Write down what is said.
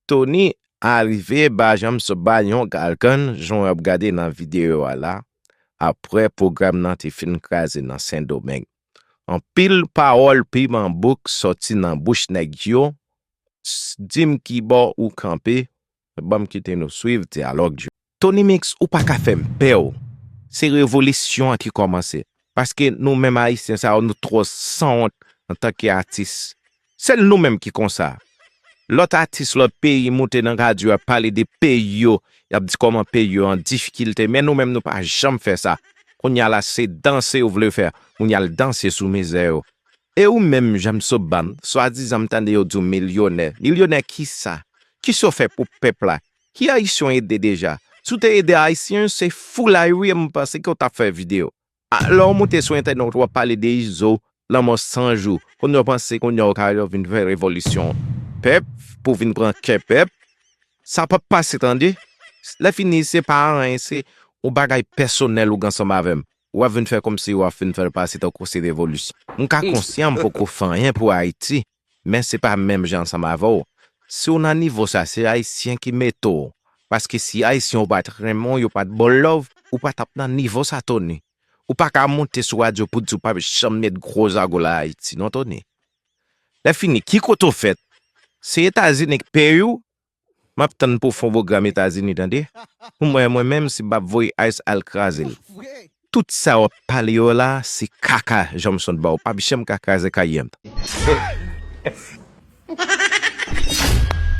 Tony a rive ba janm sou bal yon galgan jan w ap gade nan videyo a la aprè pwogram nan te fin kraze nan Sendomeng. Anpil pawòl piman bouk sòti nan bouch nèg yo, di m kibò ou kanpe, ban m kite nou swiv dyalòg yo. Tonymix ou pa ka fèm pè w se revolisyon an ki kòmanse paske nou menm ayisyen sa yo nou twò sanwont antanke atis sèl nou menm ki konsa lòt atis lòt peyi moute nan radyo yap pale de peyi yo yap di kòman peyi yo an difikilte men nou menm nou pa janm fè sa kounya la se danse ou vle fè moun yal danse sou mizè yo e ou menm janm soban swadizan m tande yo di w milyonè milyonè kisa kisa w fè pou pèp la Ki ayisyon w ede deja? Si w te ede ayisyen se foulay wi m panse ke w tap fè video a lè w moute sou entènèt wap pale de izo lanmò san jou kounya w panse kounya w ka al vin fè revolisyon pèp pou vin pran kè pèp sa pap pase tande lè fini se pa anyen se yon bagay pèsonèl ou gen ansanm avè m wap vin fè kòmsi wap fin fè l pase tankou se revolisyon m ka konsyan m poko fè anyen pou ayiti men se pa menm jan ansanm avè w si w nan nivo sa se ayisyen ki mete w paske si ayisyen yo pat renmen w yo pat ba w love ou pa tap nan nivo sa Tony ou pa ka monte sou radyo pou di w pap janm met gwo zago la ayiti non Tony lè fini ki kote w fèt se etazini k peye w Map tann pou fon program etazini tande pou mwen mwen menm si bab voye ice al krazel. Tout sa wap pale yo la se kaka jamson baw pap janm ka kraze kay yent.